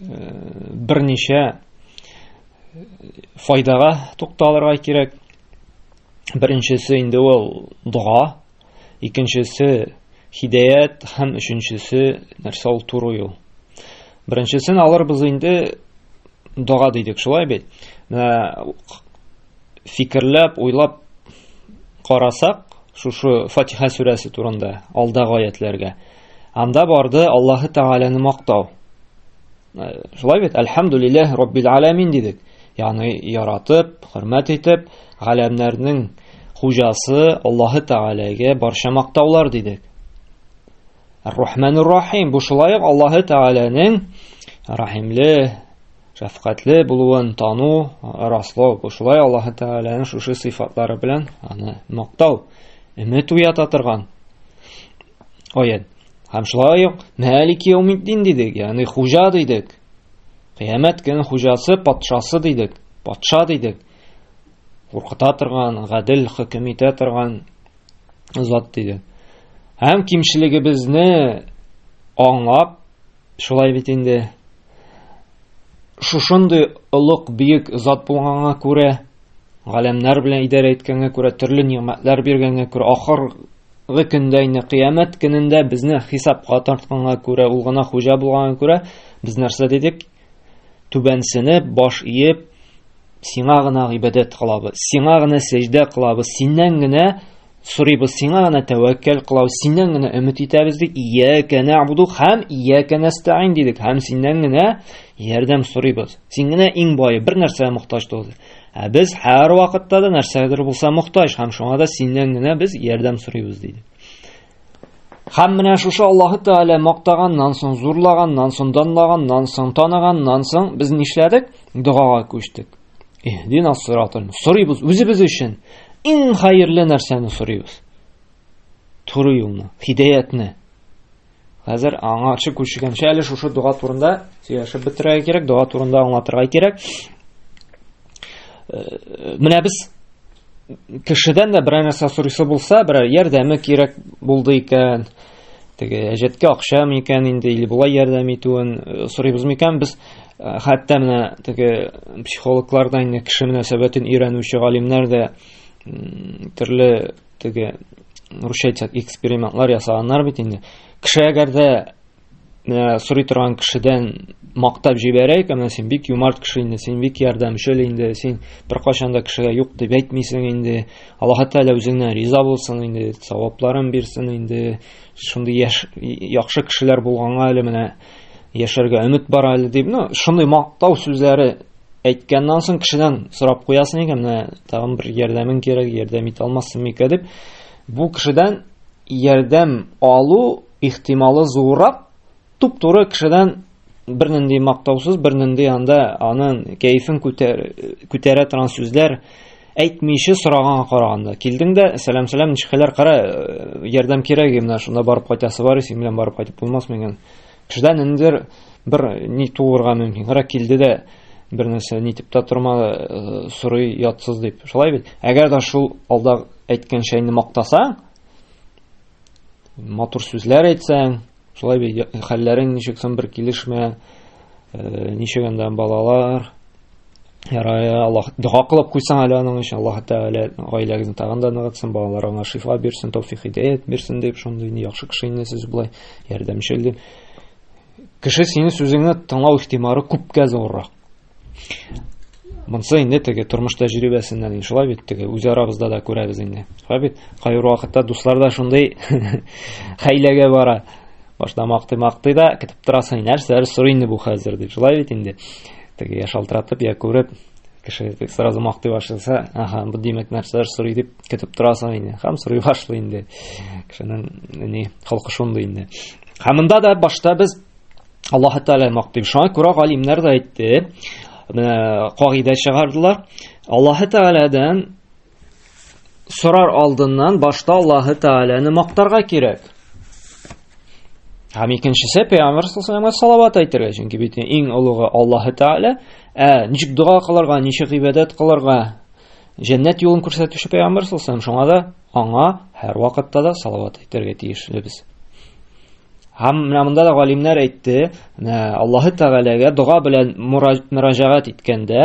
берничә файдага тукталырга кирәк. Беренчесе инде ул дога, икенчесе хидәят һәм өченчесе нәрсә ул туры юл. Беренчесен алырбыз инде дога дидек, шулай бит. Менә фикерләп, уйлап карасак, шушы Фатиха сүрәсе турында алдагы аятләргә Анда барды Аллаһы Тәгаләне мактау. Э, шулай бит, әлхәмдүлилләһ раббил аламин дидек. Ягъни яратып, хөрмәт итеп, галәмнәрнең хуҗасы Аллаһы Тәгаләгә барча мактаулар дидек. Ар-Рахманур Рахим бу шулай ук Аллаһы Тәгаләнең рахимле, шәфкатьле булуын тану, раслау. Бу шулай Аллаһы Тәгаләнең шушы сыйфатлары белән аны мактау, өмет уята торган Аят. Һәм шулай ук Мәлик Яумиддин дидек, ягъни хуҗа дидек. Кыямәт көне хуҗасы, патшасы дидек, патша дидек. Куркыта торган, гадел хөкем итә торган зат дидек. Һәм кимчелегебезне аңлап, шулай бит инде шушындый олуг бөек зат булганга күрә, галәмнәр белән идарә иткәнгә күрә, төрле нигъмәтләр биргәнгә күрә, ахыр Гы көндә инде кыямәт көнендә безне хисапка тартканга күрә ул гына хуҗа булганга күрә без нәрсә дидек түбәнсенеп баш иеп сиңа гына гыйбадәт кылабыз сиңа гына сәҗдә кылабыз синнән генә сорыйбыз сиңа гына тәвәккәл кылабыз синнән генә өмет итәбез дип иякә нәгъбуду һәм иякә нәстәин дидек һәм синнән генә ярдәм сорыйбыз син генә иң бае бер нәрсәгә мохтаҗ түгел Ә без һәр вакытта да нәрсәгәдер булса мохтаҗ һәм шуңа да синнән генә без ярдәм сорыйбыз диде. Һәм менә шушы Аллаһы Тәгалә мактаганнан соң, зурлаганнан соң, данлаганнан соң, таныганнан соң без нишләдек? Догага күчтек. Иһдина сиратал. Сорыйбыз үзебез өчен иң хәерле нәрсәне сорыйбыз. Туры юлны, хидәятне. Хәзер аңарчы күчегәнчә әле шушы дога турында сөйләшеп бетерергә кирәк, дога турында аңлатырга кирәк. Э, менә без кешедән дә берәр нәрсә сорыйсы булса, берәр ярдәме кирәк булды икән, теге әҗәткә акча микән инде или болай ярдәм итүен э, сорыйбыз микән без э, хәтта менә теге психологлардан инде кеше мөнәсәбәтен өйрәнүче галимнәр дә төрле Теге русча әйтсәк экспериментлар ясаганнар бит инде. Кеше әгәр дә ә, сорый торган кешедән мактап җибәрәйк, әмма син бик юмарт кеше инде, син бик ярдәмчел инде, син беркайчан да кешегә юк дип әйтмисең инде. Аллаһ Тәгалә үзеңнән риза булсын инде, савапларын бирсен инде. Шундый яш, яхшы кешеләр булганга әле менә яшәргә өмет бар әле дип, ну, шундый мактау сүзләре әйткәннән соң кешедән сорап куясың икән менә тагын бер ярдәмең кирәк ярдәм итә алмассың микә дип бу кешедән ярдәм алу ихтималы зуррак туп туры кешедән бернинди мактаусыз бернинди анда анын кәефен күтәрә торган сүзләр әйтмичә сораганга караганда килдең дә сәлам сәлам ничек хәлләр кара ярдәм кирәк менә шунда барып кайтасы бар синең белән барып кайтып булмасмы икән Кешедә ниндидер бер ни туырга мөмкин. Гара килде дә бер нәрсә нитеп тә торма э, сорый ятсыз дип. Шулай бит. Әгәр дә шул алда әйткән шәйне мактасаң, матур сүзләр әйтсәң, шулай бит хәлләрең ничек соң бер килешмә, э, ничек анда балалар, Ярая, Аллах дога кылып куйсаң әле аның өчен, Аллаһ Тәгалә гаиләгезне тагын да ныгытсын, балаларыңа шифа бирсен, тәүфик хидәят бирсен дип, шундый инде яхшы кеше инде сез болай ярдәмчел дип. Кеше синең сүзеңне тыңлау ихтимары күпкә зуррак. Монсы инде теге тормыш тәҗрибәсеннән инде шулай бит теге үз арабызда да күрәбез инде. Шулай бит. Кайбер вакытта дуслар да шундый хәйләгә бара. Башта мактый-мактый да, китеп торасың, нәрсәләр сорый инде бу хәзер дип. Шулай бит инде. Теге я шалтыратып, я күреп, кеше тек сразу мактый башласа, ага, бу димәк нәрсәләр сорый дип көтеп торасың инде. Хәм сорый башлый инде. Кешенең ни холкы шундый инде. Һәм монда да башта без Аллаһ Тәгалә мактый. Шуңа күрә галимнәр дә әйтте, менә кагыйдә чыгардылар. Аллаһ Тәгаләдән сорар алдыннан башта Аллаһы Тәгаләне мактарга кирәк. Һәм икенчесе пәйгамбәр саллаллаһу салават әйтергә, чөнки бит иң олыгы Аллаһы Тәгалә. Ә ничек дога кылырга, ничек гыйбадәт кылырга? Җәннәт юлын күрсәтүче пәйгамбәр саллаллаһу шуңа да аңа һәр вакытта да салават әйтергә тиешле без. Һәм менә монда да галимнәр әйтте, Аллаһы Тәгаләгә дога белән мөрәҗәгать иткәндә,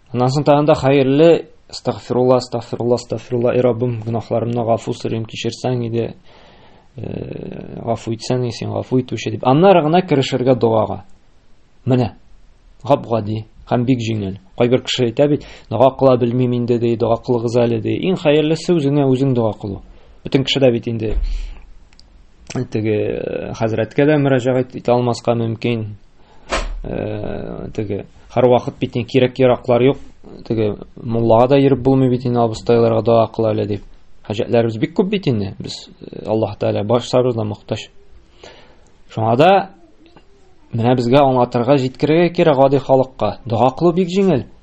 Аннан соң тагын да хәерле Астагфирулла, астагфирулла, астагфирулла, и Раббым, гөнаһларымны гафу сорыйм, кичерсәң иде, э, гафу итсәң, син гафу итүче дип. Аннары гына керешергә догага. Менә. Гап-гади һәм бик җиңел. Кайбер кеше әйтә бит, дога кыла белмим инде ди, дога кылыгыз әле ди. Иң хәерлесе үзеңә үзең дога кылу. Бөтен кеше дә бит инде теге э, хәзрәткә дә мөрәҗәгать итә алмаска мөмкин. Э, теге һәрвакыт бит ни кирәк яраклар юк. Теге муллага да йөреп булмый бит инде абыстайларга дога кыла әле дип. Хаҗәтләребез бик күп бит инде. Без э, Аллаһ Тәгалә барсабыз да мохтаҗ. Шуңа да менә безгә аңлатырга җиткерергә кирәк гади халыкка. Дога кылу бик җиңел.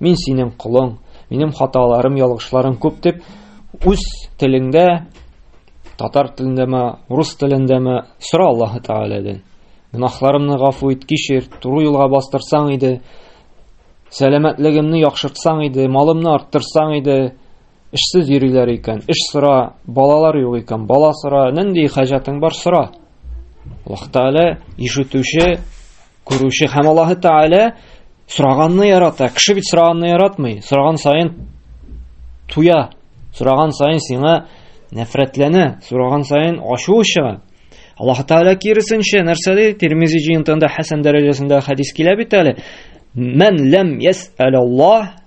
Мин синең колың, минем хаталарым, ялгышларым күп дип үз телеңдә татар телендәме, рус телендәме сора Аллаһы Тәгаләдән. Гөнаһларымны гафу ит, кичер, туры юлга бастырсаң иде, сәламәтлегемне яхшыртсаң иде, малымны арттырсаң иде, Эшсез йөриләр икән, эш сора, балалар юк икән, бала сора, нинди хаҗәтең бар сора. Аллаһ Тәгалә ишетүче, күрүче һәм Аллаһ Тәгалә сораганны ярата. Кеше бит сораганны яратмый. Сораган саен туя. Сораган саен сиңа нәфрәтләнә, сораган саен ачуы чыга. Аллаһ Тәгалә киресенчә нәрсә ди? Тирмизи җыентында хәсән дәрәҗәсендә хәдис килә бит әле. Мән ләм ясәләллаһ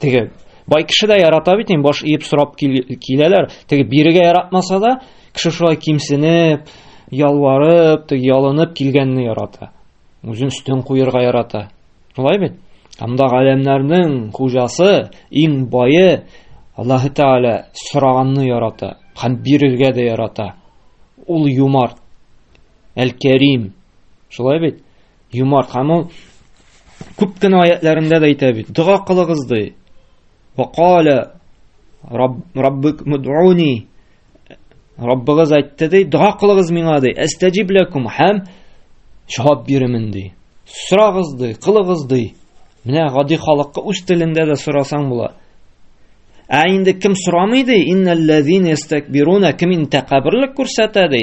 Теге бай кеше дә ярата бит, ин баш иеп сорап киләләр. Теге бирегә яратмаса да, кеше шулай кимсенеп, ялварып, теге ялынып килгәнне ярата. Үзен өстен куерга ярата. Шулай бит? Анда галәмнәрнең хуҗасы, иң бае Аллаһ Тәгалә сораганны ярата һәм бирергә дә ярата. Ул юмарт. Әл-Кәрим. Шулай бит? Юмарт һәм ул күп кенә аятьләрендә дә әйтә бит, дога кылыгыз ди. Ва кала Раббык мудуни. Раббыгыз әйтте ди, дога кылыгыз миңа ди. Әстәҗиб лакум һәм җавап бирәмен ди. Сорагыз ди, кылыгыз ди. Менә гади халыкка үз телендә дә сорасаң була. Ә инде кем сорамый ди? Иннәлләзин ястакбируна кем интәкабрлык күрсәтә ди?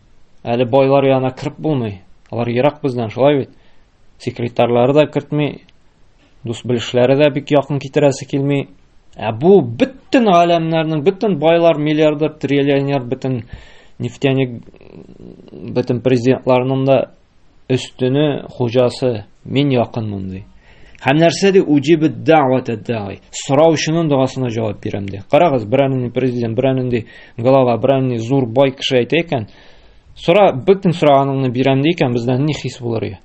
Әле байлар янына кереп булмый. Алар ерак бездән, шулай бит. Секретарьлары да кертми, дус-белешләре дә бик якын китерәсе килми. Ә бу бөтен галәмнәрнең, бөтен байлар, миллиардер, триллионер, бөтен нефтяник, бөтен президентларның да өстене хуҗасы мин якынмын ди һәм нәрсә ди уҗибе дәвәтә дәи сораучының догасына җавап бирәм ди карагыз берәр нинди президент берәр нинди глава берәр нинди зур бай кеше әйтә икән сора бөтен сораганыңны бирәм ди икән бездә ни хис булыр ия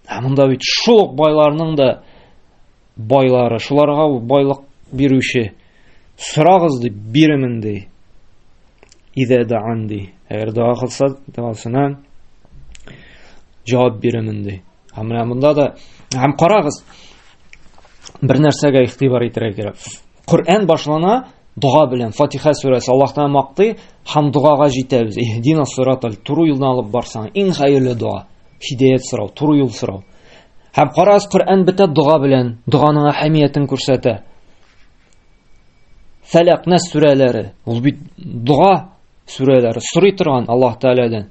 ә монда бит шул ук байларның да байлары, шуларга байлык бирүче, сорагыз дип бирәмен ди. Идә даан ди. Әгәр дога кылса, догасына җавап бирәмен ди. Һәм менә монда да һәм карагыз, бер нәрсәгә игътибар итәргә кирәк. Коръән башлана дога белән, Фатиха сүрәсе, Аллаһ Тәгалә мактый һәм догага җитәбез. Иһдина сиратал, туры юлдан алып барсаң, иң хәерле дога, хидәят сорау, туры юл сорау. Һәм карагыз, Коръән бетә дога белән, доганың әһәмиятен күрсәтә. Фәләк, Нас сүрәләре, ул бит дога сүрәләре, сорый торган Аллаһ Тәгаләдән.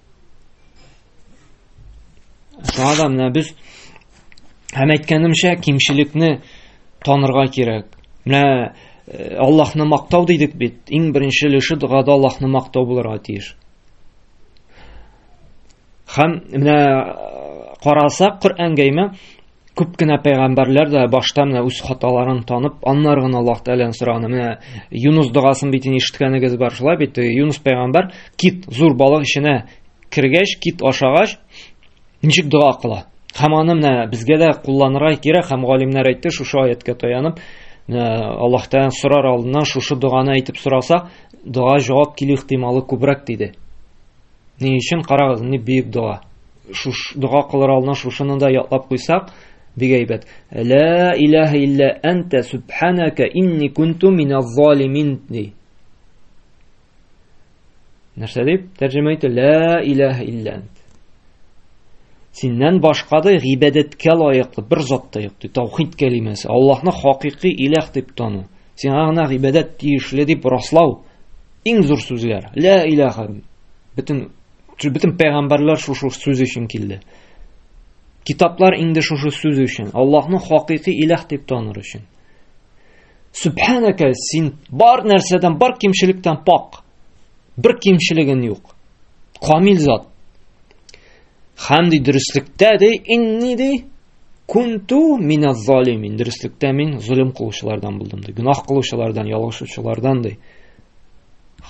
Шуңа да менә без һәм әйткәнемчә кимчелекне танырга кирәк. Менә э, Аллаһны мактау дидек бит. Иң беренче өлеше догада Аллаһны мактау булырга тиеш. Һәм менә э, карасак Коръәнгә имә Күп кенә пәйгамбәрләр дә башта менә үз хаталарын танып, аннары гына Аллаһ Тәгаләдән сораган. Менә Юнус догасын бит инде ишеткәнегез бар, шулай бит? Юнус пәйгамбәр кит зур балык эченә кергәч, кит ашагач, ничек дога кыла? Һәм аны менә безгә дә кулланырга кирәк, һәм галимнәр әйтте, шушы аятка таянып, Аллаһ Тәгаләдән сорар алдыннан шушы доганы әйтеп сораса, дога җавап килү ихтималы күбрәк диде. Ни өчен карагыз, ни бөек дога. Шуш дога кылыр алдына шушыны да ятлап куйсак, бик әйбәт. Ла илаһа илля анта субханака инни кунту миназ залимин. Нәрсә дип тәрҗемә итте? Ла илаһа илля ант. Синнән башка да гыйбадәткә лаеклы бер зат та юк. Таухид кәлимәсе. Аллаһны хакыйкый илаһ дип тану. Сиңа гына гыйбадәт тиешле дип раслау. Иң зур сүзләр. Ля иляха. Бөтен бөтен пәйгамбәрләр шушы сүз өчен килде. Китаплар инде шушы сүз өчен. Аллаһны хакыйкый иләх дип таныр өчен. Сүбхәнәкә, син бар нәрсәдән, бар кимчелектән пак. Бер кимчелегең юк. Камил зат. Хәм ди дөреслектә ди инни ди кунту мина залимин. Дөреслектә мин золым кылучылардан булдым ди. Гүнах кылучылардан, ялгышучылардан ди.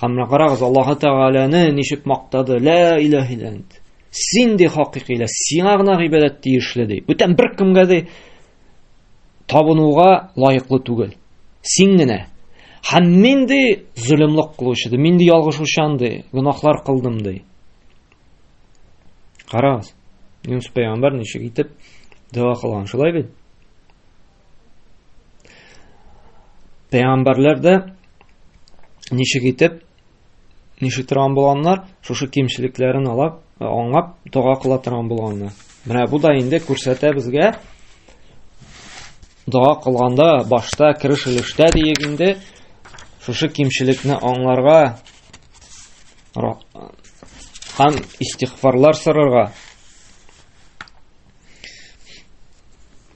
Хәм карагыз Аллаһы Тәгаләне ничек мактады. Ла илаһ илант. Син ди хакыйкый ла, сиңа гына гыйбадәт тиешле ди. Бүтән бер кемгә ди табынуга лаеклы түгел. Син генә. Хәм мин ди золымлык кылучы ди, мин ди ялгышучан ди, гүнахлар кылдым ди. Карагыз, Юнус пәйгамбәр ничек итеп дога кылган, шулай бит? Пәйгамбәрләр дә ничек итеп ничек торган булганнар, шушы кимчелекләрен алап, аңлап дога кыла торган булганнар. Менә бу да инде күрсәтә безгә дога кылганда башта кереш өлештә диек инде шушы кимчелекне аңларга һәм истигъфарлар сорарга.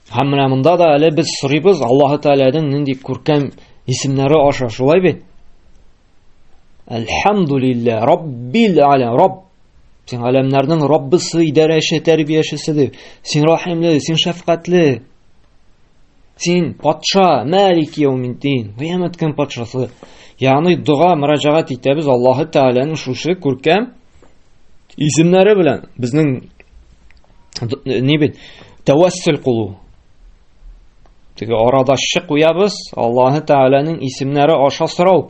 Һәм менә монда да әле без сорыйбыз Аллаһ Тәгаләнең нинди күркәм исемнәре аша, шулай бит? Әлхәмдулиллә, Раббил алә, Рабб Син галәмнәрнең Раббысы, идарәче, тәрбиячесе дип. Син рәхимле, син шәфкатьле. Син патша, Мәлик Яумиддин, кыямәт көн патшасы. Ягъни дога мөрәҗәгать итәбез Аллаһы Тәгаләнең шушы күркәм исемнәре белән безнең ни бит тәвәссүл кылу. Теге арадашчы куябыз, Аллаһы Тәгаләнең исемнәре аша сорау.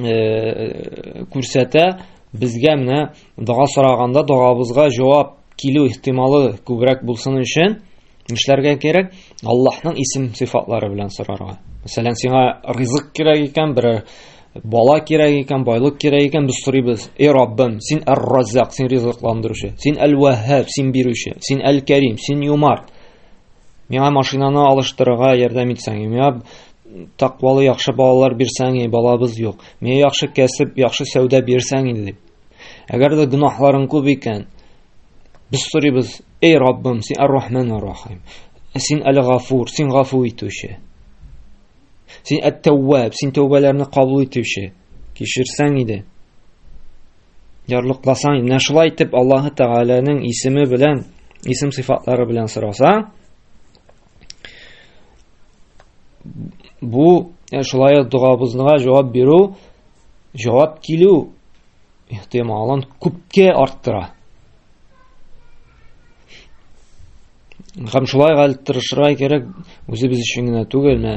э, күрсәтә, безгә менә дога сораганда догабызга җавап килү ихтималы күбрәк булсын өчен нишләргә кирәк? Аллаһның исем сыйфатлары белән сорарга. Мәсәлән, сиңа ризык кирәк икән, бер бала кирәк икән, байлык кирәк икән, без сорыйбыз: "Эй Раббым, син Ар-Раззак, син ризыкландыручы, син Әл-Ваһһаб, син бирүче, син Әл-Кәрим, син Юмарт. Миңа машинаны алыштырырга ярдәм итсәң, миңа Таквалы яхшы балалар бирсәң, балабыз юк. Миңа яхшы кәсеп, яхшы сәүдә бирсәң инде дип. Әгәр дә гөнаһларың күп икән, без сорыйбыз, эй Раббым, син Ар-Рахман Ар-Рахим. Син әле Гафур, син гафу итүче. Син әт-тәвваб, син тәүбәләрне кабул итүче. Кешерсәң иде. Ярлыкласаң, менә шулай итеп Аллаһы Тәгаләнең исеме белән, исем сыйфатлары белән сораса, Бу э, шулай дугабызга җавап бирү, җавап килү ихтималын күпкә арттыра. Һәм шулай гал тырышырга кирәк, үзебез өчен генә түгел, менә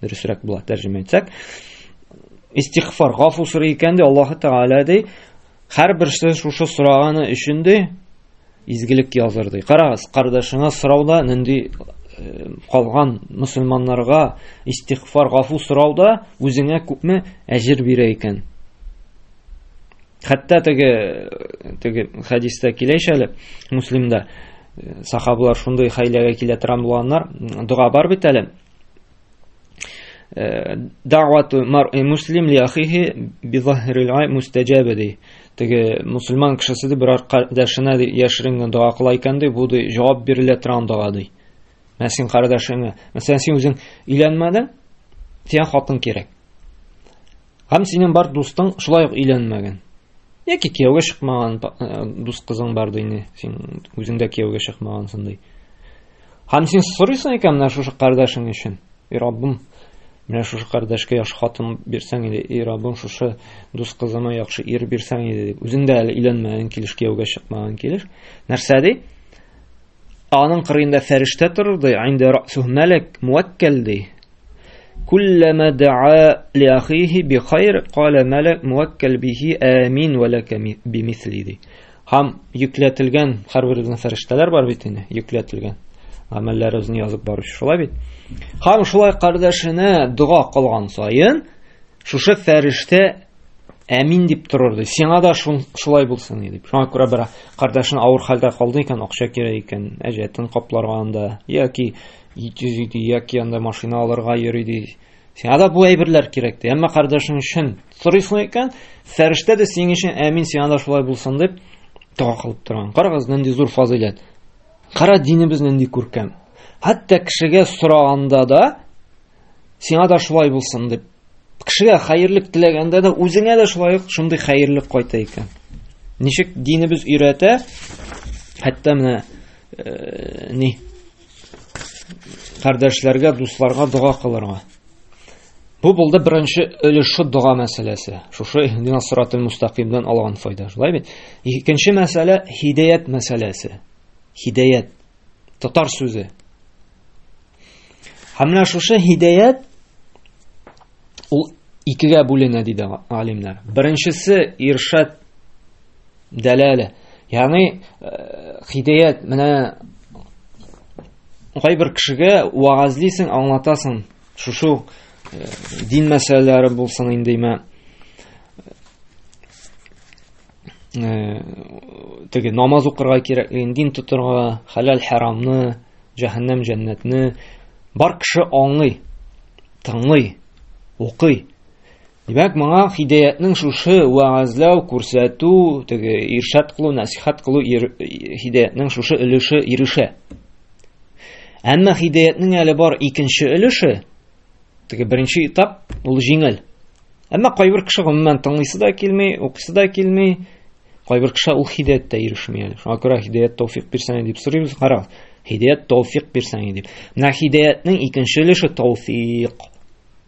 дөресрәк була тәрҗемә итсәк истигъфар гафу сорый икән ди аллаһы тәгалә ди һәрберсе шушы сораганы өчен ди изгелек языр ди карагыз кардәшеңә сорауда нинди э, калган мөселманнарга истигъфар гафу сорауда үзеңә күпме әҗер бирә икән хәтта теге теге хәдистә килә ич әле муслимда сахабалар шундый хәйләгә килә торган булганнар дога бар бит әле Э, Дәвату маръи муслим ли ахихи бизахрил ай мустаҗабе ди. Теге мусульман кешесе ди бер кардәшенә ди яшерен генә дога кыла икән ди, бу ди җавап бирелә торган дога ди. Менә син кардәшеңә, мәсәлән, син үзең өйләнмәдең, сиңа хатын кирәк. Һәм синең бар дустың шулай ук өйләнмәгән. Яки кияүгә чыкмаган э, дус кызың бар ди инде, син үзең дә кияүгә чыкмагансың ди. Һәм син сорыйсың икән менә шушы кардәшең өчен. И Раббым, менә шушы кардәшкә яхшы хатын бирсәң иде, и Раббым, шушы дус кызыма яхшы ир бирсәң иде дип. Үзең дә әле өйләнмәгән килеш, кияүгә чыкмаган килеш. Нәрсә ди? Аның кырыенда фәрештә торыр ди, инде расуһ мәләк муаккәл ди. Куллама даа ли ахихи би хайр, кала мәләк муаккәл бихи амин ва лака би мисли ди. Һәм йөкләтелгән һәрбер безнең фәрештәләр бар бит инде, йөкләтелгән. Гамәлләр үзен язып баручы шулай бит. Һәм шулай кардәшенә дога кылган саен, Шушы фәрештә әмин дип торыр ди. Сиңа да шулай булсын ди дип. Шуңа күрә бер кардәшен авыр хәлдә калды икән, акча кирәк икән, әҗәтен капларга анда яки ит йөзи ди, яки анда машина алырга йөри ди. Сиңа да бу әйберләр кирәк ди. Әмма кардәшең өчен сорыйсың икән, фәрештә дә синең өчен әмин сиңа да шулай булсын дип дога кылып торган. Карагыз, нинди зур фазыйләт. Кара динебез нинди күркәм. Хәтта кешегә сораганда да Сиңа да шулай булсын дип. Кешегә хәерлек теләгәндә дә үзеңә дә шулай ук шундый хәерлек кайта икән. Ничек динебез өйрәтә? Хәтта менә э, ни кардәшләргә, дусларга дога кылырга. Бу булды беренче өлеше дога мәсьәләсе. Шушы иһдина сиратул мустакимдан алган файда, шулай бит? Икенче мәсьәлә хидәят мәсьәләсе. Хидәят татар сүзе. Һәм менә шушы һидәят ул икегә бүленә диде алимнар. Беренчесе иршат дәләлә. Ягъни э, һидәят менә кайбер кешегә вагазлыйсың, аңлатасың. Шушы э, дин мәсьәләләре булсын индеме? теге намаз укырга кирәклеген, дин тотырга, хәләл харамны, җәһәннәм җәннәтне бар кеше аңлый, тыңлый, укый. Димәк, моңа хидәятнең шушы вәгазләү, күрсәтү, теге иршат кылу, насихат кылу хидәятнең шушы өлеше ирешә. Әмма хидәятнең әле бар икенче өлеше, Теге беренче этап ул җиңел. Әмма кайбер кеше гомумән тыңлыйсы да килми, укыйсы да килми. Кайбер кеше ул хидәят тә ирешми әле. Шуңа күрә хидәят тауфик бирсәң дип сорыйбыз. Карагыз, хидәят тауфик бирсәң дип. Менә хидәятнең икенче өлеше тауфик.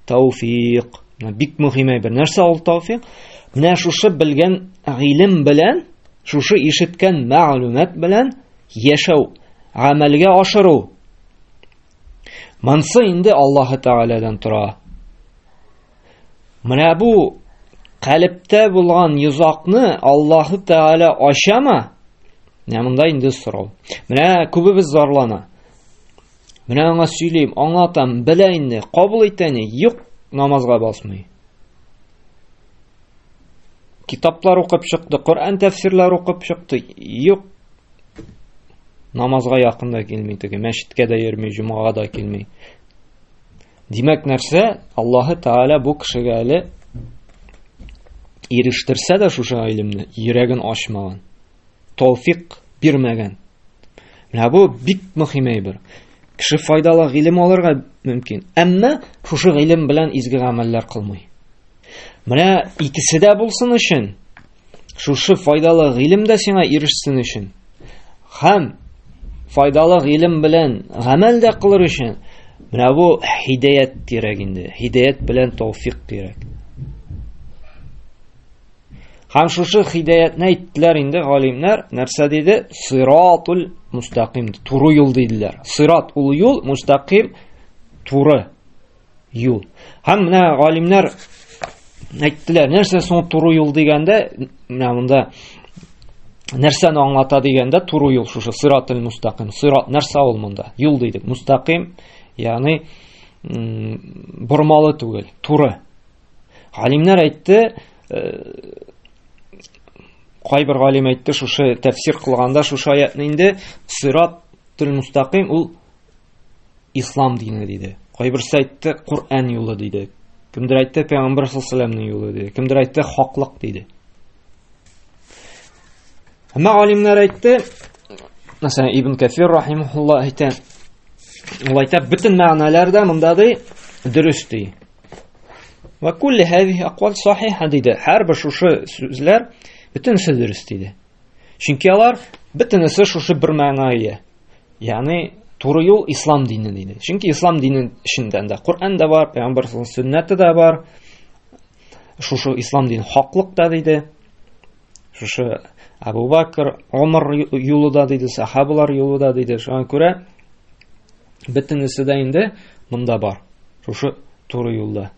Тауфик. Менә бик мөһим әйбер. Нәрсә ул тауфик? Менә шушы белгән гыйлем белән, шушы ишеткән мәгълүмат белән яшәү, гамәлгә ашыру. Монсы инде Аллаһы Тәгаләдән тора. Менә бу калептә булган йозакны Аллаһы Тәгалә ачама? Менә монда инде сорау. Менә күбебез зарлана. Менә аңа сөйлим, аңлатам, белә инде, кабул итәне, юк, намазга басмый. Китаплар укып чыкты, Коръән тәфсирләр укып чыкты. Юк. Намазга якын да килми теге, мәчеткә дә йөрми, җомага да килми. Димәк, нәрсә? Аллаһы Тааля бу кешегә әле ирештерсә дә шушы гыйлемне, йөрәген ачмаган. тауфик бирмәгән. Менә бу бик мөһим әйбер. Кеше файдалы гыйлем алырга мөмкин, әмма шушы гыйлем белән изге гамәлләр кылмый. Менә икесе дә булсын өчен, шушы файдалы гыйлем дә сиңа ирешсен өчен, һәм файдалы гыйлем белән гамәл дә кылыр өчен, менә бу һидаят кирәк инде. Һидаят белән тауфик кирәк. Һәм шушы хидәятне әйттеләр инде галимнәр, нәрсә диде? Сиратул мустаким, туры юл диделәр. Сират ул юл, мустаким туры юл. Һәм менә галимнәр әйттеләр, нәрсә соң туры юл дигәндә, менә монда нәрсәне аңлата дигәндә туры юл шушы сиратул мустаким. Сират нәрсә ул монда? Юл дидек. Мустаким, ягъни бормалы түгел, туры. Галимнәр әйтте, кайбер галим әйтте, шушы тәфсир кылганда шушы аятны инде сират тел мустаким ул ислам дине диде. Кайберсе әйтте, Коръән юлы диде. Кемдер әйтте, Пәйгамбер саллаллаһу юлы диде. Кемдер әйтте, хаклык диде. Әмма галимнәр әйтте, мәсәлән, Ибн Кафир рахимахулла әйтә, ул әйтә, бөтен мәгънәләр дә монда ди, дөрес ди. Ва кулли хәзихи аквал сахиха диде. Һәрбер шушы сүзләр бөтенесе дөрес диде. Чөнки алар бөтенесе шушы бер мәгънәгә ия. Ягъни туры юл ислам дине диде. Чөнки ислам динен эчендә дә Коръән дә бар, пәйгамбәр сүннәте дә бар. Шушы ислам дин хаклык та диде. Шушы Абу Бакр, Омар юлы да диде, сахабалар юлы да диде. Шуңа күрә бөтенесе дә инде монда бар. Шушы туры юлда.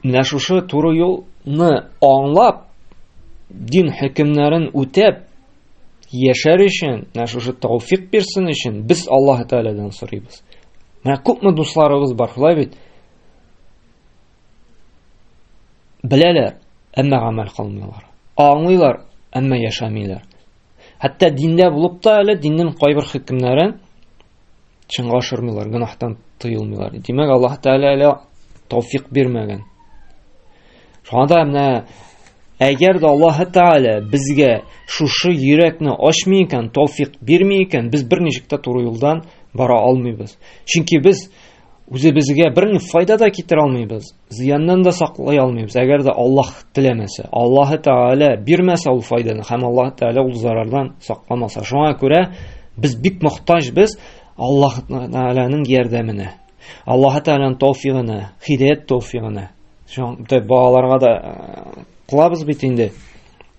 Менә шушы туры юлны аңлап, дин хөкемнәрен үтәп яшәр өчен, менә шушы тауфик бирсен өчен без Аллаһ Тәгаләдән сорыйбыз. Менә күпме дусларыбыз бар, шулай бит? Беләләр, әмма гамәл кылмыйлар. Аңлыйлар, әмма яшәмиләр. Хәтта диндә булып та әле диннең кайбер хөкемнәрен чынга ашырмыйлар, гөнаһтан тыелмыйлар. Димәк, Аллаһ Тәгалә әле тауфик бирмәгән. Шуңа да менә әгәр дә Аллаһ Тәгалә безгә шушы йөрәкне ачмый икән, тауфик бирми икән, без берничек тә туры юлдан бара алмыйбыз. Чөнки без үзебезгә бер ни файда да китерә алмыйбыз, зыяннан да саклый алмыйбыз. Әгәр дә Аллаһ теләмәсә, Аллаһы Тәгалә бирмәсә ул файданы һәм Аллаһ Тәгалә ул зарардан сакламаса. Шуңа күрә без бик мохтаҗ без Аллаһ Тәгаләнең ярдәменә. Аллаһ Тәгаләнең тауфигына, хидәят тауфигына. Шуңа балаларга да э, кылабыз бит инде.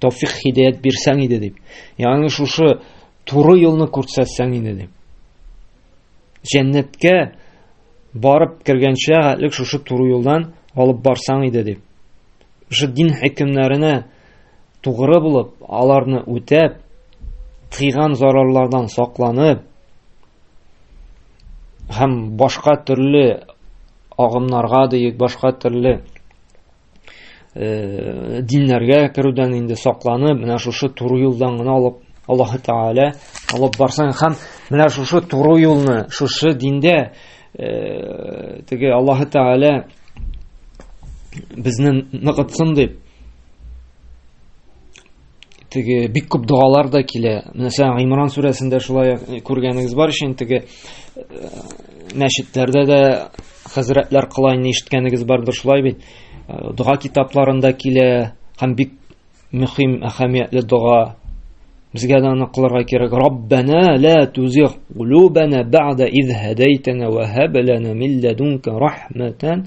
Тауфик хидәят бирсәң иде дип. Ягъни шушы туры юлны күрсәтсәң иде дип. Җәннәткә барып кергәнчә әлек шушы туры юлдан алып барсаң иде дип. Шушы дин хөкемнәренә тугры булып, аларны үтәп, тыйган зарарлардан сакланып һәм башка төрле агымнарга диек, башка төрле э, диннәргә керүдән инде сакланып, менә шушы туры юлдан гына алып Аллаһ Тәгалә алып барсаң һәм менә шушы туры юлны, шушы диндә э, теге Аллаһ Тәгалә безне ныгытсын дип теге бик күп догалар да килә. Мәсәлән, Гимран сүрәсендә шулай э, күргәнегез бар өчен теге э, мәчетләрдә дә хәзрәтләр кылайны ишеткәнегез бардыр шулай бит. Э, дога китапларында килә һәм бик мөһим әһәмиятле дога Безгә дә аны кылырга кирәк. Раббана ла тузигъ кулубана ба'да из хадайтана ва хаб лана мин ладунка рахматан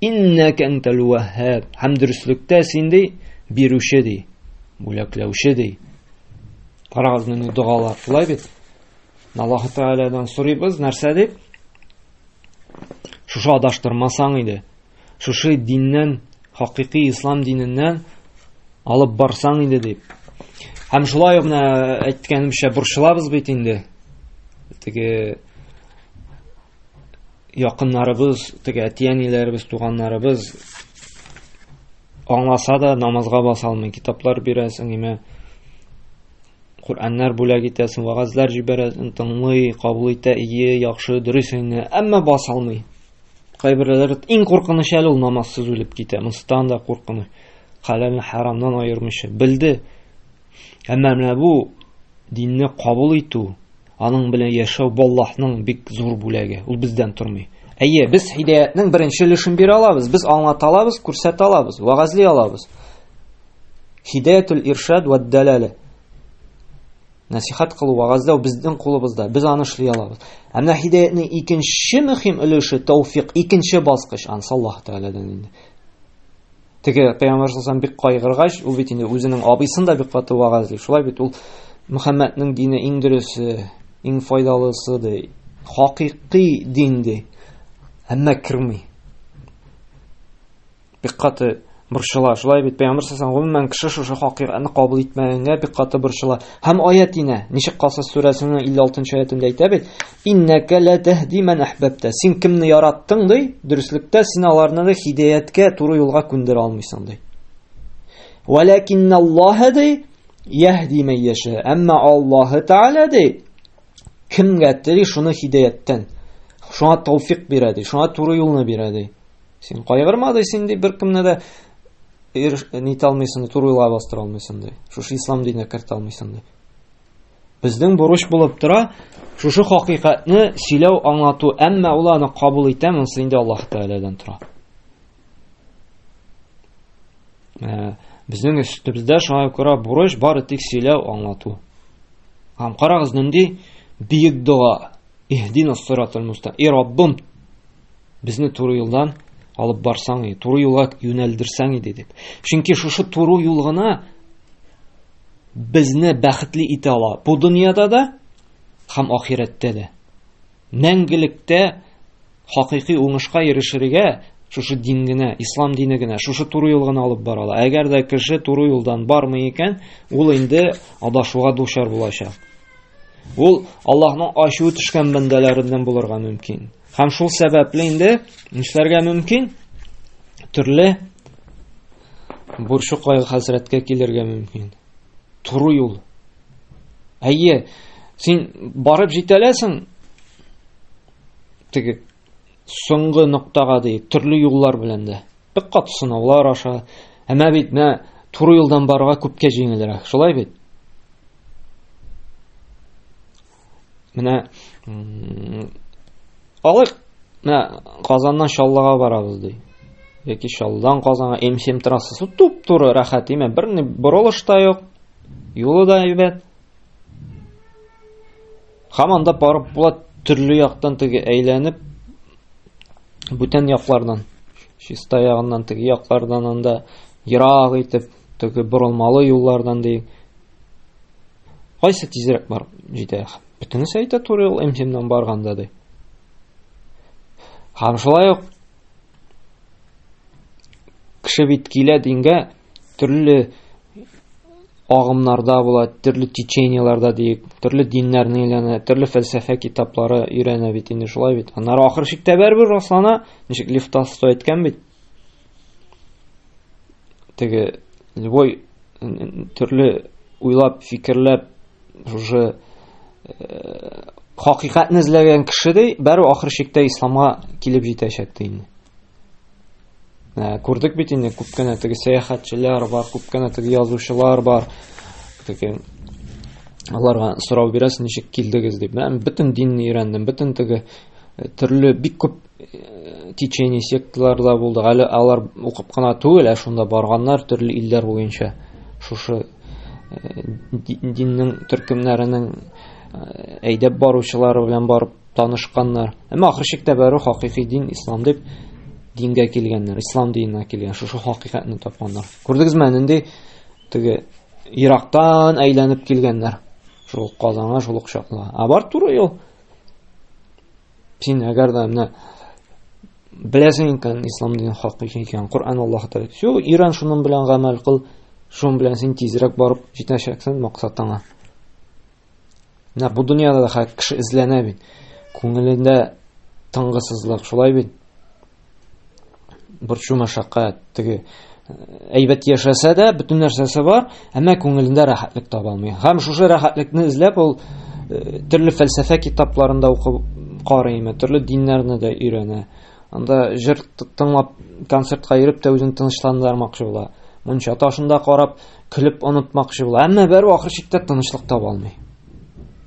Иннәк әнтәл вәһһәб. Һәм дөреслектә син ди, бирүче ди, бүләкләүче ди. Карагыз менә догалар шулай бит. Аллаһу Тәгаләдән сорыйбыз, нәрсә дип? Шушы адаштырмасаң иде. Шушы диннән, хакыйкый ислам диненнән алып барсаң иде дип. Һәм шулай ук менә әйткәнемчә борчылабыз бит инде. Теге якыннарыбыз, теге әти-әниләребез, туганнарыбыз аңласа да намазга баса алмый. Китаплар бирәсең, име Коръәннәр бүләк итәсең, вагазлар җибәрәсең, тыңлый, кабул итә, ие, яхшы, дөрес инде, әмма баса алмый. Кайберләре иң куркыныч әле ул намазсыз үлеп китә. Монстан да куркыныч. Хәләлне харамнан аермыйча. Белде, Әмма менә бу динне кабул итү, аның белән яшәү бу Аллаһның бик зур бүләге. Ул бездән тормый. Әйе, без һидаятның беренче өлешен бирә алабыз, без аңлата алабыз, күрсәтә алабыз, вагазли алабыз. Һидаятул иршад ва дәләлә. Насихат кылу, вагазлау безнең кулыбызда, без аны эшли алабыз. Әмма һидаятның икенче мөһим өлеше тауфик, икенче баскыч ансы Аллаһ Тәгаләдән инде. Теге пәйгамбәр саллаллаху бик кайгыргач, ул бит инде үзенең абыйсын да бик каты вәгазьли. Шулай бит ул Мөхәммәднең дине иң дөресе, иң файдалысы ди. Хакыйкый дин ди. Әмма керми. Бик каты борчыла. Шулай бит пәйгамбәр саллаллаху алейһи ва кеше шушы хакыйкатьне кабул итмәгәнгә бик каты борчыла. Һәм аят инә. Ничек Касас сүрәсенең 56 нчы аятында әйтә бит, Иннәкә лә тәһди мән әхбәптә. Син кемне яраттың ди? Дөреслектә син аларны да хидаяткә, туры юлга күндерә алмыйсың ди. Вәләкинналлаһа ди яһди мән яша. Әмма Аллаһы Тааля ди кемгә тели шуны хидаяттан. Шуңа тауфик бирә ди, шуңа туры юлны бирә ди. Син кайгырма ди, син ди беркемне дә нитә алмыйсың, туры юлга бастыра алмыйсың ди. Шушы ислам диненә кертә алмыйсың ди. Безнең бурыч булып тора шушы хакыйкатьне сөйләү, аңлату, әмма ул аны кабул итә, монысы инде Аллаһ Тәгаләдән тора. Ә, безнең өстебездә шуңа күрә бурыч бары тик сөйләү, аңлату. Һәм карагыз нинди бийек дога. Иһдина сиратал муста. И Раббым, безне туры юлдан алып барсаң, туры юлга юнәлдерсәң иде дип. Чөнки шушы туры юл гына безне бәхетле итә ала бу дөньяда да һәм ахирәттә дә. Мәңгелектә хакыйкый уңышка ирешергә шушы дин генә, ислам дине генә, шушы туры юл гына алып бара ала. Әгәр дә кеше туры юлдан бармый икән, ул инде адашуга дучар булачак. Ул Аллаһның ачуы төшкән бәндәләреннән булырга мөмкин. Һәм шул сәбәпле инде нишләргә мөмкин? Төрле Борчуклай хәзрәткә килергә мөмкин. Туру юл. Әйе, син барып җитәләсең теге соңгы ноктага ди, төрле юллар белән дә. Бик кат сынаулар аша. Әмма бит менә туры юлдан барырга күпкә җиңелрәк. Шулай бит? Менә алык, менә Казаннан Чаллыга барабыз ди. Яки Чаллыдан Казанга М7 трассасы туп-туры рәхәт, имә бер ни борылыш та юк. Юлы да әйбәт. Хаманда барып була төрле яктан теге әйләнеп бүтән яклардан чиста ягыннан теге яклардан анда ерак итеп теге борылмалы юллардан ди Кайсы тизрәк бар җитә? Бөтенесе әйтә туры юл МТМнан барганда ди. Һәм шулай ук кеше бит килә дингә төрле агымнарда була, төрле течениеләрдә диек, төрле диннәрне өйләнә, төрле фәлсәфә китаплары өйрәнә бит инде шулай бит. Аннары ахыр чиктә бәрбер раслана, ничек Лифтас әйткән бит. теге любой төрле уйлап фикерләп уже э, хакыйкатьне эзләгән кешедәй бәрү ахыр чиктә исламга килеп җитәчәк ди инде ә, күрдек бит инде күп кенә теге сәяхәтчеләр бар күп кенә теге язучылар бар теге аларга сорау бирәсең ничек килдегез дип мә бөтен динне өйрәндем бөтен теге э, төрле бик күп течение секталар да булды әле алар укып кына түгел ә шунда барганнар төрле илләр буенча шушы э, диннең төркемнәренең э, әйдәп баручылары белән барып танышканнар әмма ахыр чиктә бәрі хакыйкый дин ислам дип дингә килгәннәр ислам диненә килгән шушы хакыйкатьне тапканнар күрдегезме нинди теге ерактан әйләнеп килгәннәр шул казанга шул ук чакла а бар туры юл Син әгәр дә менә беләсең икән ислам динен хак икән, Коръән Аллаһ тәгәлә. Су иран шуның белән гамәл кыл, шуның белән син тизрәк барып җитәчәксең максатыңа. Менә бу дөньяда да хәк кеше эзләнә бит. Күңелендә тыңгысызлык, шулай бит. борчу мәшәкать теге әйбәт яшәсә дә бөтен нәрсәсе бар әмма күңелендә рәхәтлек таба алмый һәм шушы рәхәтлекне эзләп ул э, төрле фәлсәфә китапларын да укып карыймы төрле диннәрне дә өйрәнә анда җыр тыңлап концертка йөреп тә үзен тынычландырмакчы була мунча ташында карап көлеп онытмакчы була әмма бәрү ахыр чиктә тынычлык таба алмый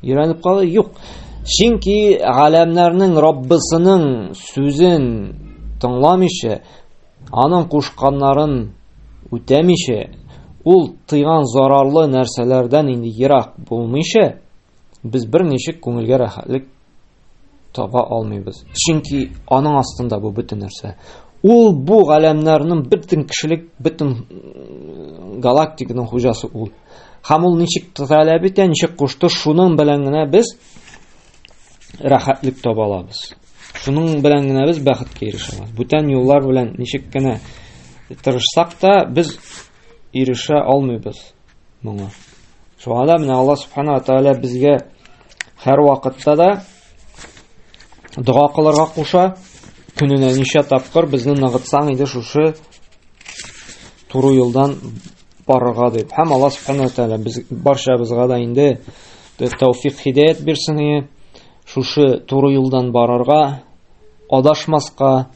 Өйрәнеп калу юк. Чөнки галәмнәрнең Раббысының сүзен тыңламыйча, аның кушканнарын үтәмичә, ул тыйган зарарлы нәрсәләрдән инде ерак булмыйча, без бер ничек күңелгә рәхәтлек таба алмыйбыз. Чөнки аның астында бу бөтен нәрсә. Ул бу галәмнәрнең бөтен кешелек, бөтен галактиканың хуҗасы ул. Һәм ул ничек таләп итә, ничек кушты, шуның белән генә без рәхәтлек таба алабыз. Шуның белән генә без бәхеткә ирешә алабыз. Бүтән юллар белән ничек кенә тырышсак та, без ирешә алмыйбыз. Моңа. Шуңа да менә Алла Субхану ва Тааля безгә һәр вакытта да дога кылырга куша. Көненә ничә тапкыр безне ныгытсаң иде шушы туры юлдан барырга дип. Һәм Алла Субхану ва Тааля без барчабызга да инде тәүфик хидәят бирсен. Шушы туры юлдан барырга, адашмаска,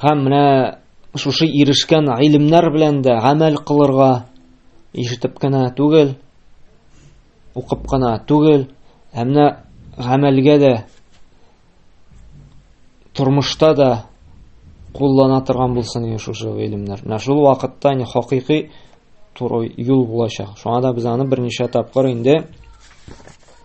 Һәм менә шушы ирешкән гыйлемнәр белән дә гамәл кылырга ишетеп кенә түгел, укып кына түгел, ә менә гамәлгә дә тормышта да куллана торган булсын иде шушы гыйлемнәр. Менә шул вакытта не хакыйкый туры юл булачак. Шуңа да без аны берничә тапкыр инде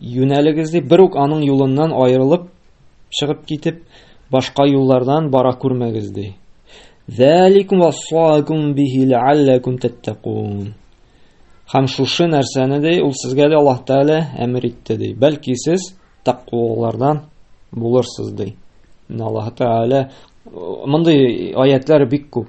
Юнәлегез дип бер үк аның юлыннан аерылып чыгып китеп, башка юллардан бара күрмәгез ди. Заликум вассакум бихи ләаллакум таттакун. Хәм шушы нәрсәне ди, ул сезгә дә Аллаһ Тәгалә әмер итте ди. Бәлки сез тәкъвалардан булырсыз ди. Аллаһ Тәгалә мондый аятлар бик күп.